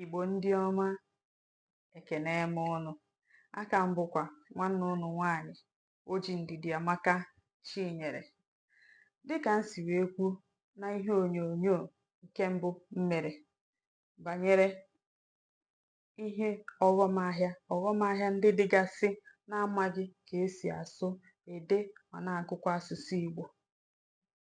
Igbo ndị ọma, ekene m ụnụ. Aka m bụkwa nwanne ụnụ nwaanyị Oji Ndidiamaka Chinyere. Dịka m si wee kwuo na ihe onyonyo nke mbụ m mere banyere ihe ọghọm ahịa ọghọm ahịa ndị dịgasị na-amaghị ka esi asụ, ede ma na-agụkwa asụsụ Igbo.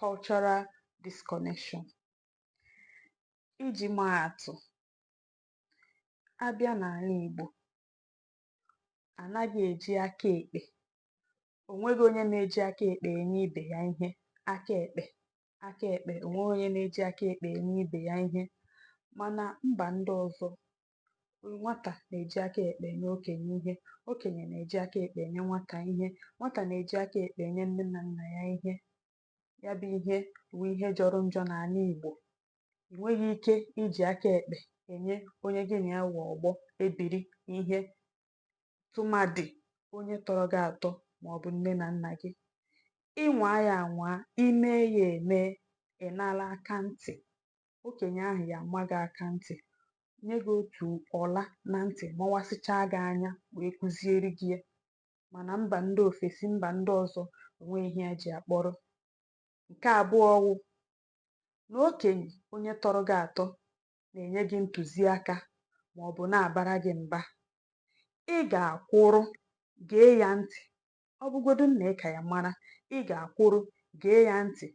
cultural disconnection. Iji maa atụ, a bịa n'ana Igbo, a naghị eji aka ekpe o nweghị onye na-eji aka ekpe enye ibe ya ihe aka ekpe aka ekpe o nweghị onye na-eji aka ekpe enye ibe ya ihe mana mba ndị ọzọ nwata na-eji aka ekpe enye okenye ihe okenye na-eji aka ekpe enye nwata ihe nwata na-eji aka ekpe enye nne na nna ya ihe ya bụ ihe wụ ihe jọrọ njọ n'ana Igbo ị nweghị ike iji aka ekpe enye onye gị na ya wụ ọgbọ ebiri ihe tụmadị onye tọrọ gị atọ ma ọ bụ nne na nna gị ị nwaa ya anwaa i mee ya emee ị nala aka ntị okenye ahụ ya ama gị aka ntị nye gị otu ọla na ntị mawasịchaa gị anya wee kụziere gị ya mana mba ndị ofesi mba ndị ọzọ o nweghị ihe ha ji ya kpọrọ nke abụọ wụ na okenye onye tọrọ gị atọ na-enye gị ntụziaka ma ọ bụ na-abara gị mba ị ga-akwụrụ gee ya ntị ọ bụgodu na ị ka ya mara ị ga-akwụrụ gee ya ntị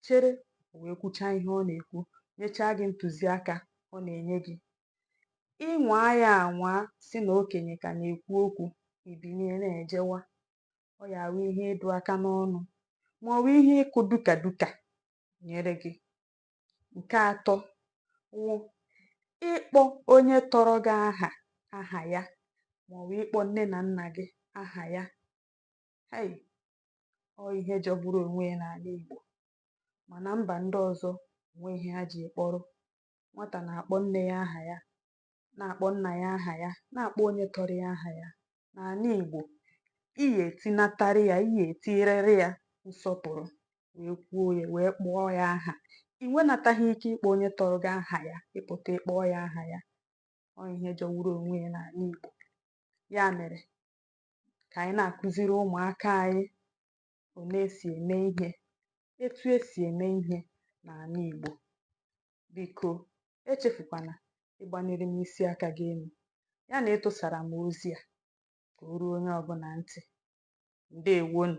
chere o wee kwuchaa ihe ọ na-ekwu, nyechaa gị ntụziaka ọ na-enye gị. Ị nwaa ya anwaa sị na okenye ka na-ekwu okwu, i binie na-ejewa. Ọ ya-awụ ihe ịdụ aka n'ọnụ maọbụ ihe ịkụ duka duka nyere gị. Nke atọ wụ ịkpọ onye tọrọ gị aha aha ya maọbụ ịkpọ nne na nna gị aha ya. Hei! Ọ ihe jọgburu onwe ya n'ana Igbo. Mana mba ndị ọzọ, o nwe ihe ha ji kpọrọ. Nwata na-akpọ nne ya aha ya, na-akpọ nna ya aha ya, na-akpọ onye tọrọ ya aha ya. N'ana Igbo, i ya etinatara ya, i ya etinyerịrị ya nsọpụrụ, wee kwuo ya, wee kpọọ ya aha. I nwenataghị ike ịkpọ onye tọrọ gị aha ya, ị pụta ị kpọọ ya aha ya. Ọ ihe jọgburu onwe ya n'ana Igbo. Ya mere, ka anyị na-akụziri ụmụaka anyị one esi eme ihe etu esi eme ihe n'ana Igbo biko echefukwana ịgbanyere m isi aka gị enu ya na ịtụsara m ozi a ka o ruo onye ọbụna ntị ndewonu